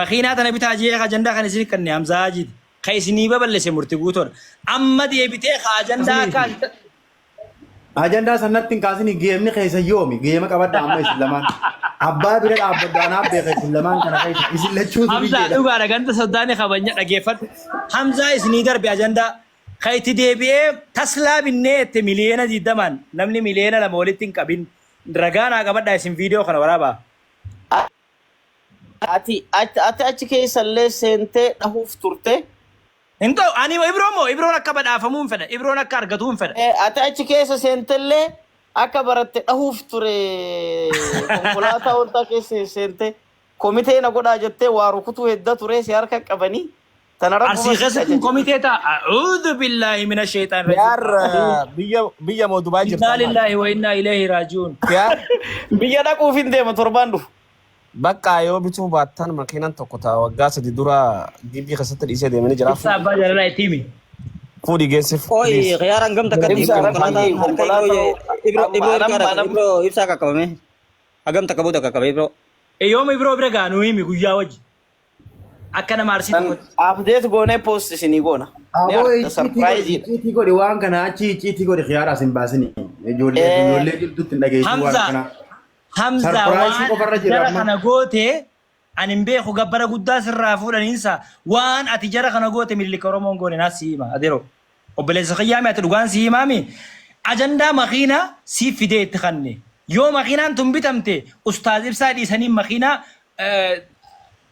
Makiinaa tana bitaa je'ee ka ajandaa kana isinii kanne Hamzaa Haajiiti. Ka isinii baballese Murti Guutoodha. Amma deebitee ka ajandaa Asliifi. kaasi ta. Ajandaa san natti hin kaasini geemni keessan yoomi? Geema qabadhaa amma isin lamaan. Abbaa bira dhaabbadhu anaaf beeka isin lamaan kana keessa. Isin lachuu Hamzaa duriyyeedha. dhugaadha ganda soddaani kabanya dhageeffadhu. Hamzaa isinii darbe ajandaa. Ka itti deebi'ee taslaa binnee jette miliyeena diiddamaan namni miliyeena lama walitti hin qabin ragaa naa qabadhaa isin viidiyoo kana waraabaa. Ati ati ati achi keessa illee seentee dhahuuf turte. Hin ta'u, ani Ibroon moo Ibroon akka badhaafamuun fedha, Ibroon akka argatuun fedha. Ee, ati achi keessa seentee illee akka baratte dhahuuf ture. Konkolaataa oltaa keessa seentee komitee na godhaa jettee waa rukutuu hedda ture si harka qabanii. Tana Arsii rabbuma sitti keessatti hin ajaje. komitee ta'a. A'uudhu billaahi mina sheexaan rajiim. Yaar biyya biyya moo Dubaay jirta Innaa ammaati. lillaahi wa innaa ileehi raaji'uun. Yaar Biyya dhaquuf hin deema torbaan dhufu. baqqaa yoo bituu baattan makiinan tokko ta'a waggaa sadi dura gibbii keessatti dhiisee deemanii jira. Ibsaa abbaa jaalalaa itti himi. Fuudhi geessif. Oi, please. khiyar angam takati Ibsa ibro Rabbii, kalata harka konkolaataa ibro ye ibro amma- ibro amma- ibro amma- ibro ibsa kakabame. Agam takabu takabe ibro. Yooma ibiroo bira gaanu himi guyyaa wajji. Akka nama arsiitti Kan godhe. update goonee post isinii goona. Ni Aboo argita icciitii godhi, surprise dha. icciitii godhi waan kana achi icciitii godhi kiyaaraa sin baasini. Ijoollee Eh, ijoollee jirtutti hin dhageessin waan Hamza, akkanaa. Hamza Sarpiraayisii waan qofarra jira jara amma. kana goote ani hin beeku gabbara guddaa sirraa fuudhaniinsa waan ati jara kana goote mililika Oromoon goone naas siima adeero. Obboleessa kiyyaa mee ati dhugaan sii himaa mee ajandaa makiinaa siif fidee itti kanne yoo makiinaan tun bitamte ustaaz ibsaa dhiisanii makiinaa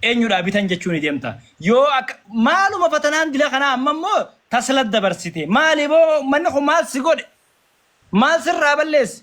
eenyudhaa bitan jechuu ni deemta yoo akka maaluma fatanaan dila kanaa amma immoo tasla dabarsite maali boo manni kun maal si godhe maal sirraa balleesse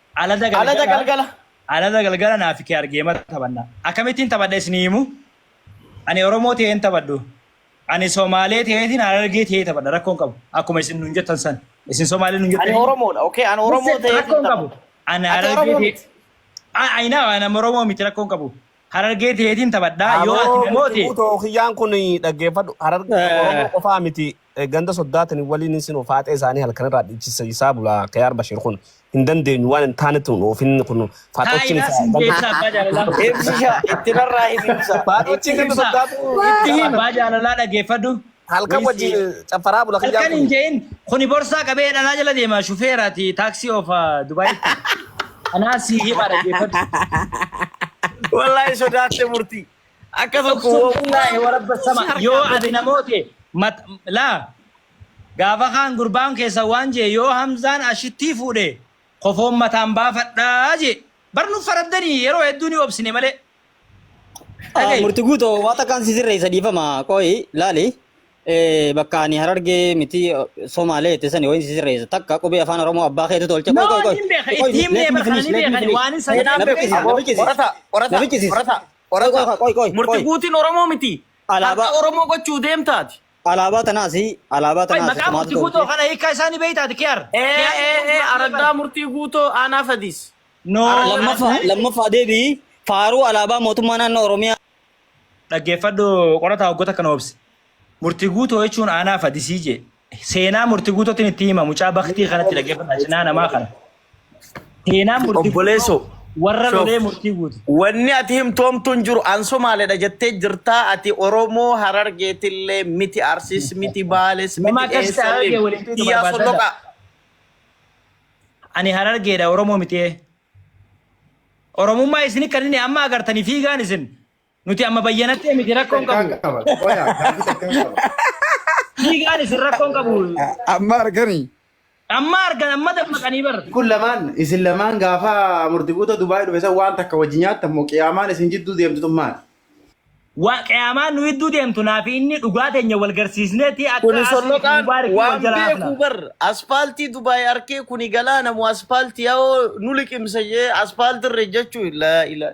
Alada Alada galgala galgala. alada galgala naa fi kee argeema taphanna. Akkamittiin taphadha isinii himu? Ani Oromoo ta'ee hin taphadhu. Ani Somaalee ta'eetiin Harargee ta'ee taphadha rakkoon qabu. Akkuma isin nuun jettan san. Isin Somaalee nuun Ani jettanii. Oromoodha. Okay, ani Oromoo ta'ee Rakkoon qabu. Ani Ati Harargee Oromoo ta'ee. miti. Ah, I know, ani Oromoo miti rakkoon qabu. Harargee ta'eetiin taphadha. Yoo ati na moote. Tookiyyaan kun dhaggeeffadhu. Harargee Eh. Oromoo qofaa miti. ganda soddaatani waliin isin ofaaxee isaanii halkan irraa dhiichiseessaa bulaa Kiyaar Bashir kun hin dandeenyu waan hin taanetti hin oofin kun faaxochiin isaa ganda Ibsa abbaa jaalalaa. Ibsisha itti narraa hin ibsa. faaxochiin ganda soddaatu Itti him abbaa jaalalaa dhaggeeffadhu. halkan wajjin caffaraa bula kiyyaan Halkan hin kun je'in kuni borsaa qabee dhalaa jala deema shufeeraati taaksii oofa Dubaayitti. Anaa sii hima dhaggeeffadhu. wallaahi sodaatte murtii. Akka tokko Uqsum woo- billaahi warabba Uqsum sama harkaa yoo ati na godhama. moote mat- laa gaafa kaan gurbaan keessa waan jee yoo hamzaan ashittii fuudhe kofoon mataan baafadhaa jee bar nuuf faraddanii yeroo hedduu ni obsine malee Ah, Dhaga'i. murti guutoo waa takkaan si sirreessa dhiifama qoyi laali Eh, bakka ani harargee miti somaalee itti sani wayin si sirreessa takka qubee afaan oromoo abbaa keetu tolche qoy qoy qoy Qoy, qoy, let me finish, let me finish. Na biqisi, na biqisi, na biqisi. Na biqisi. Qoran Qofa, qofa. qoy, qoy, Murti qoy. guutiin Oromoo miti. Alaabaa- Harka Oromoo gochuu deemtaati. Alaabaa tanaas alaabaa Qoy, tanaas maqaa tumaatu murti guutoo tolche. kana hiikaa isaa ni beektaati kiyaar. Ee, Kiyaar ee, jechuun ee, maal araddaa jedhama? murtii guutoo aanaa fadiis. No. Araddaa- Lammaffaa lammaffaa deebi'i faaruu alaabaa mootummaa naannoo Oromiyaa. Dhaggeeffadhu qorataa waggoota kana obse. Murti guutoo jechuun aanaa fadisii jee. Seenaa murti guutotin itti hima mucaa baktii kanatti dhaggeeffadha cinaa namaa kana. Seenaa murti Obboleesso. warra Shoo. lolee murtii guutu. Wanni ati himtoomtu hin jiru an Somaaleedha jettee jirtaa ati Oromoo Harargeetillee miti Arsiis miti Baales Nama miti akkas ta'e Harargee Eessallee waliin tuutu Iyyaa barbaadadha. Solloqaa. Ani harargeedha Oromoo miti. Oromummaa isin kan inni amma agartanii fiigaan isin Nuti amma bayyanattee miti rakkoon Takkaa qabu. qaba. Qoyaa gaafii takkaa qaba. Fiigaan isin rakkoon qabu. Amma argani. Amma argan amma dammaqanii bar. Kun lamaan isin lamaan gaafa murtiguuta Dubaayii dhufe san waan takka wajji nyaattan moo qiyaamaan isin jidduu deemtu tun maali? Waa qiyaamaan nu idduu deemtu naa fi inni dhugaa teenya wal garsiisneeti akka Kuni asii fi solloqaan mubaarikii wal waan jala beeku hafna. bar aspaaltii Dubaay arkee kuni galaana moo aspaaltii yaa'oo nu liqimsa jee aspaaltii irra jechuu ilaa ilaa.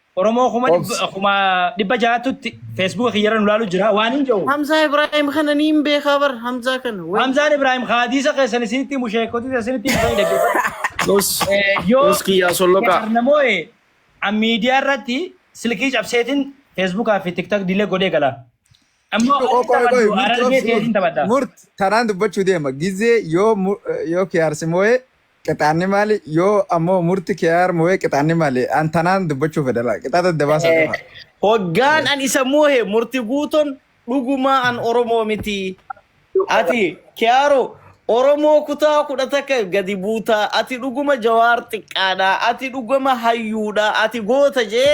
Oromoo kuma Obs. dhibba- kuma dhibba ja'aatutti feesbuuka kiyyarra nu laalu jira waan hin jedhu. Hamzaa Ibrahim kana ni hin beekaa bar Hamzaa kana. Wai. Hamzaan Ibrahim hadiisa keessan isinitti himu sheekoti isinitti himu fayyada geeffadha. Tos. Eh, Yoo Tos kiyyaa solloqaa. namoonni miidiyaa irratti silkii cabseetiin feesbuukaa fi tiktak diilee godhee gala. Ammoo Murtu oo qoy qoy murtu Harargee obsi keetiin taphadha. murt taraan dubbachuu deema gizee yoo mu- yoo kiyaarsi moo'ee qixaanni maali yoo ammoo murti kiyaar moo'ee qixaanni maali an tanaan dubbachuu fedhala qixaata dabaasa qofa. Hoggaan an isa moohe murti guuton dhugumaa an Oromoo miti. Ati kiyaaro Oromoo kutaa kudha takka gadi buutaa ati dhuguma jawaar xiqqaadha ati dhuguma hayyuudha ati goota jee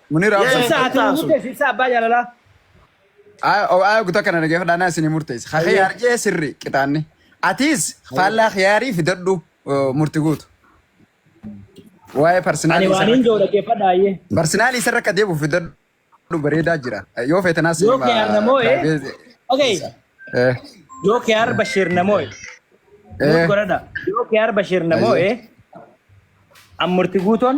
Munir Yee. Absar. Ibsaa ati Ibsaa sun. murteessi ibsaa abbaa jaalalaa. Ayo guta kana nagee fudhaanaa isin murteessi. Ka Hayyee. khiyaar jee sirri qixaanni. Atiis faallaa khiyaarii fidadhu uh, murti guutu. Waa'ee Ani parsinaalii waan isarra hin jiru dhaggeeffadha hayyee. parsinaalii isarra akka deebi'u fidadhu bareedaa jira. Yoo feetanaas Yoo hima khiyaar namoo ee. daabee- Okay. Eh, Yoo khiyaar Bashir namoo ee. Nuuf eh. godhadha. Yoo khiyaar Bashir namoo ee. An murti guutoon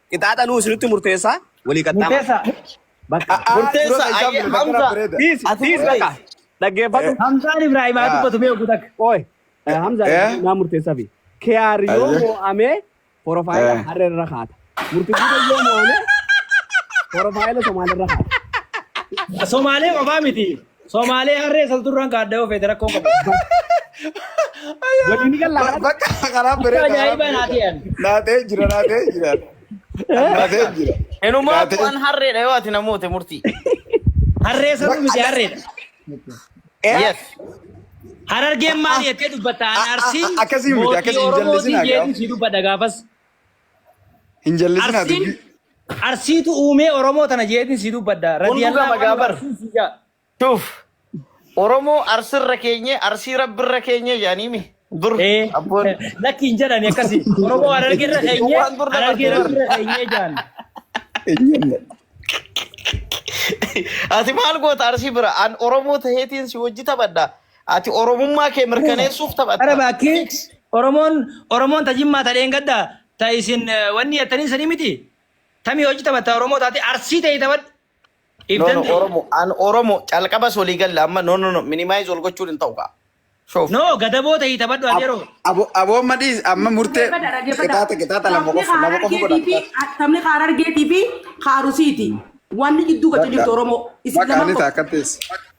Qixaaxa nuu isinitti murteessaa walii qaxxaama. Murteessaa. Bakka. A'aa, Murteessa, durata ayyee, isaan bilbila Hamza. kana bareeda. Dhiisi, Ati dhiisi murteessi. bakka. Dhaggeeffadhu. Hamzaan Ibrahim haa dubbatu mee oguu takka. Qoy. Eh, Hamza Eh? eh? naa murteessaa fi. Kiyaar yoo Ayyee. mo'amee porofaayila Eh. harree irra kaata. Murtiguuda yoo mo'amee porofaayila Somaalee irra kaata. Somaalee qofaa miti. Somaalee harree salturraan kaadda yoo feete rakkoo qabu. Waliin galla. Bakka karaa Bakka bareeda. ajaa'ibaa naa ta'an. Naatee jira, naatee jira. Naatee jira. Inumaa Naatee- bu'aan harreedha yoo ati namoota murtii. Harree saruu miti harreedha. Eh, Yes. Harargeen maal jettee dubbatta? Ani Ah, ah, Arsii ah, akkasii miti, mootii akkasii hin Oromootii jallisinaa jeetu gaaf. sii dubbadha gaafas. Hin jallisinaa Arsiin dubbii. Arsiitu uumee Oromoo tana jeetiin sii dubbadha. Kun dhuga Radiyallahu anhu magaabar. Arsiin sii jaa. Tuuf. Oromoo arsirra keenye arsii rabbirra keenye jedhaniimi. Dur Ee, abboon. lakki hin jedhani akkasi. Oromoo Harargeerra keenyee, Waan dur dabartee Harargeerra bar. irra keenyee jedhan. Eeyyamna. Ati maal goota arsii bira? An Oromoo taheetiin si wajji taphadha. Ati Oromummaa kee mirkaneessuuf taphatta. Araba akkee Fix. Oromoon Oromoon ta jimmaa ta dheengadda ta isin eh, wanni jettanii sanii miti. Tamii hojii taphatta Oromoo taate arsii ta'e taphadhu. If No, no, danda'e. Oromo. An Oromo. Calqabas walii galla amma. No, no, no. Minimize wal gochuun hin ta'u kaa. Shoof. No gadaboo ta'e taphadhu ati yeroo. Abo abo madis amma murte qitaata qitaata lama qof lama qof godha. Sabni Harargeetii fi Haarusiiti. Wanni gidduu gata jirtu Oromoo. Isin Bakka lamaan ani qofa. taakka teessi.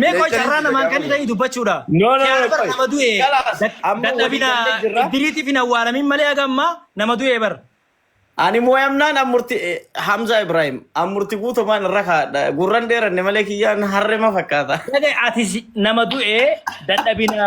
Mee qoy carraa namaan kan ta'e dubbachuudha. No, no, Kiyaara no, bara qoy. nama du'e Kalaas, dad- amma dadhabina walii gallee jirra. iddiriitiif hin awwaalamin malee haga ammaa nama du'e bara. Ani mooyamnaan ammurti Hamza Ibrahim ammurti guutumaan irra kaadha. Gurran dheeranne malee kiyyaan harrema fakkaata. Dhagaa ati si- nama du'e dadhabina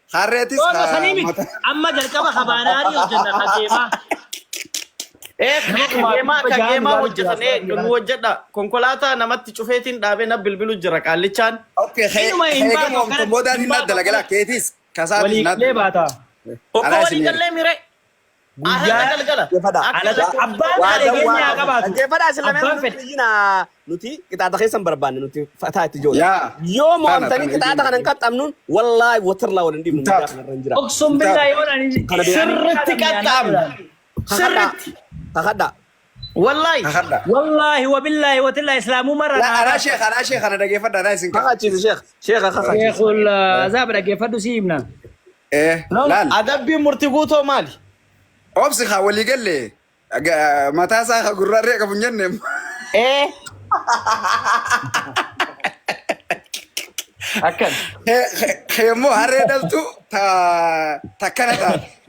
Harreetis Yoo sanii miti mata. amma jalqaba kabaanaarii hojjenna kageemaa. Ee Nama kumaaf kageemaa dhibba ja'aan kageemaa ilaalu hojjetan jiraatu eegdu nu hojjedha. Konkolaataa namatti cufeetiin dhaabee na bilbilu jira qaallichaan. Okay, kee Inuma hin kee baatu gamoomtu akkanatti boodaan hin hin baatu dalagala akkanatti keetis kasaatis walii hin galee dalagala. baata. Tokko Anaa walii isin eega. gallee miree. Guyyaa dhaggeeffadha. Abbaan fedhe keenya haa qabaatu. Dhaggeeffadha isin lameen Abbaan fedhe. iyyina nuti qixaaxa keessan barbaanne nuti fataa itti ijoollee. Yaa. Yoo Tana, mo'amtanii tana, qixaaxa kana hin qaxxamnuun wallaahi watirlaa wal hin dhiifnu Taatu. guyyaa kanarra hin jira. Oksum billaa yoo naan Kana beeku. Sirritti qaxxaamna. Sirritti. Kakadhaa. Wallahi Kakadha. wallahi wabillahi watillahi islaamummaa irraa Na naa araa sheekh araa sheekh kana dhageeffadha araa isin kakadha. Kakachiisi sheekh. Sheekha kakachiisi. Sheekul azaaba dhaggeeffadhu si himna. Eh Nam laal adabbiin murti guutoo maali? obsi haa walii galle ga- mataa isaa haa gurraa irree qabu hin jenne. Ee akkan. Kee immoo harree dhaltu ta takkana taate.